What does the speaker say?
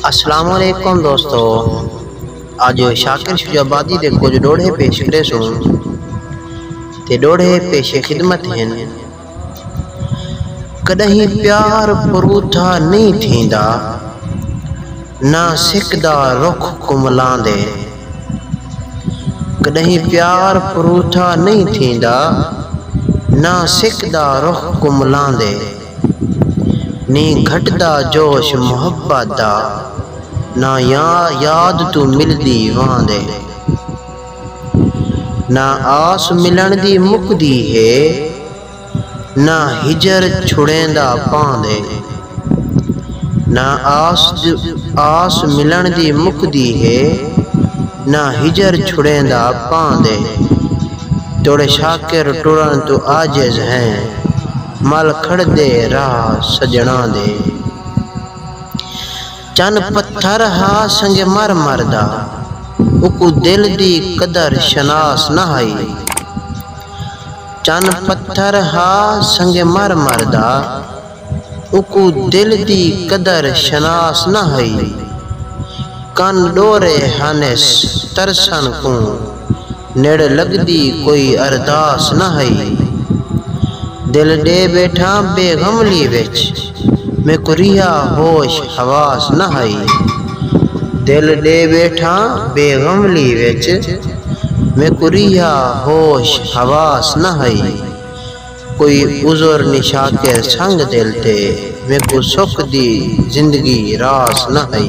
السلام علیکم دوستو اج شاکر شجاع آبادی دے کجھ ڈوہڑے پیش کریسوں تے ڈوہڑے پیش خدمت ہن کڈہیں پیار پروتھا نی تھیندا نہ سک دا رخ کملاندے کڈہیں پیار پروتھا نی تھیندا نہ سک دا رخ کملاندے نی گھٹدا جوش محبت دا نہ یاد توں ملدی واند اے نہ آس ملݨ دی مکدی ہے نہ ہجر چھڑیندا پاند اے نہ آس ملݨ دی مکدی ہے نہ ہجر چھڑیندا پاند اے تیݙے شاکر ٹرݨ توں عاجز ہیں مل کھڑدے راہ سڄݨاں دے۔ چن پتھر ہا سنگ مر مر دا۔ اکوں دل دی قدر شناس نہ ہئی۔ چن پتھر ہا سنگ مر مر دا۔ اکوں دل دی قدر شناس نہ ہئی۔ کن ݙورے ہنس ترسݨ کوں۔ نڑ لگدی کوئی ارداس نہ ہئی۔ دل ڈے بیٹھاں بے غملی وچ۔ میکوں ریہا ہوش حواس نہ ہئی۔ دل ڈے بیٹھاں بے غملی وچ۔ میکوں ریہا ہوش حواس نہ ہئی۔ کوئی عذر نی شاکر سنگ دل تے۔ میکوں سکھ دی زندگی راس نہ ہئی۔